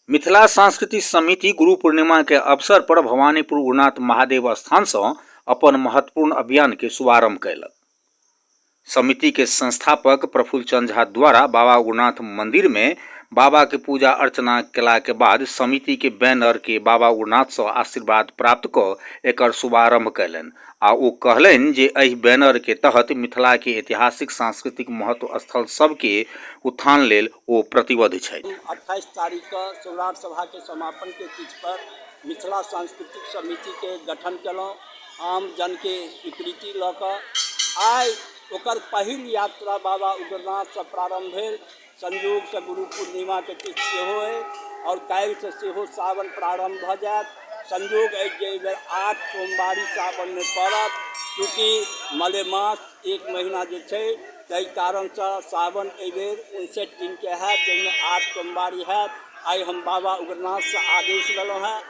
मिथिला सांस्कृतिक समिति गुरु पूर्णिमा के अवसर पर भवानीपुर उग्रनाथ महादेव स्थान से अपन महत्वपूर्ण अभियान के शुभारंभ कयलक समिति के संस्थापक प्रफुल्ल चंद झा द्वारा बाबा उग्रनाथ मंदिर में बाबा के पूजा अर्चना केला के बाद समिति के बैनर के बाबा उग्रनाथ से आशीर्वाद प्राप्त क एकर शुभारंभ कयलनि आ ओ कहलनि जे एहि बैनर के तहत मिथिला के ऐतिहासिक सांस्कृतिक महत्व स्थल सब के उत्थान लेल ओ प्रतिबद्ध छथि। अट्ठाइस तारीख कऽ सौराठ सभा के समापन के तिथि पर मिथिला सांस्कृतिक समिति के गठन केलहुँ आम जन के स्वीकृति लऽ कऽ। आइ ओकर पहिल यात्रा बाबा उग्रनाथ सँ प्रारंभ भेल। संयोगसँ गुरु पूर्णिमाके तिथि सेहो अछि आओर काल्हिसँ सेहो सावन प्रारम्भ भऽ जायत संयोग अछि जे एहि बेर आठ सोमवारी सावनमे पड़त चूँकि मलेमास एक महीना जे छै ताहि कारणसँ सावन एहि बेर उनसठि दिनके हैत जाहिमे आठ सोमवारी हैत आइ हम बाबा उग्रनाथसँ आदेश लेलहुँ हेँ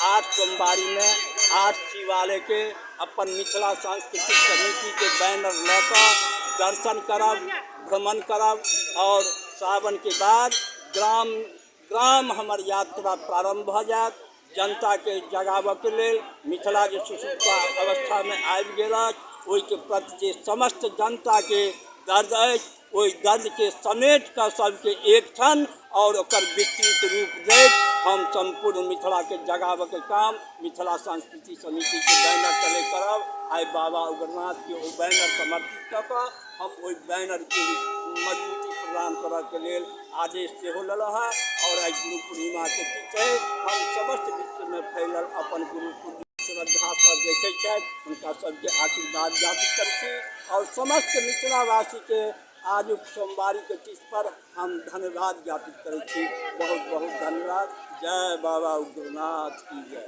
आठ सोमवारीमे आठ शिवालयके अपन मिथिला सांस्कृतिक समितिके बैनर लऽ कऽ दर्शन करब भ्रमण करब आओर सावनके बाद ग्राम ग्राम हमर यात्रा प्रारम्भ भऽ जायत जनताके जगाबऽके लेल मिथिला जे सुसुप्ता अवस्थामे आबि गेल अछि ओइके प्रति जे समस्त जनताके दर्द अछि ओइ दर्दके समेट कऽ सबके एक सङ्ग आओर ओकर विस्तृत रूप देब हम सम्पूर्ण मिथिलाके जगाबऽके काम मिथिला संस्कृति समितिके बैनर तले करब आइ बाबा उग्रनाथके ओ बैनर समर्पित कऽ कऽ हम ओहि बैनरके मजबूती प्रदान करऽके लेल आदेश सेहो लेलहुँ हँ आओर आइ गुरु पूर्णिमाके दिन छै हम समस्त विश्वमे फैलल अपन गुरु पूर्णिमा श्रद्धासँ देखै छथि हुनका सभके आशीर्वाद याचित करै छी आओर समस्त मिथिलावासीके आजुक सोमवारीके तिथिपर हम धन्यवाद ज्ञापित करै छी बहुत बहुत धन्यवाद जय बाबा उग्रनाथ की जय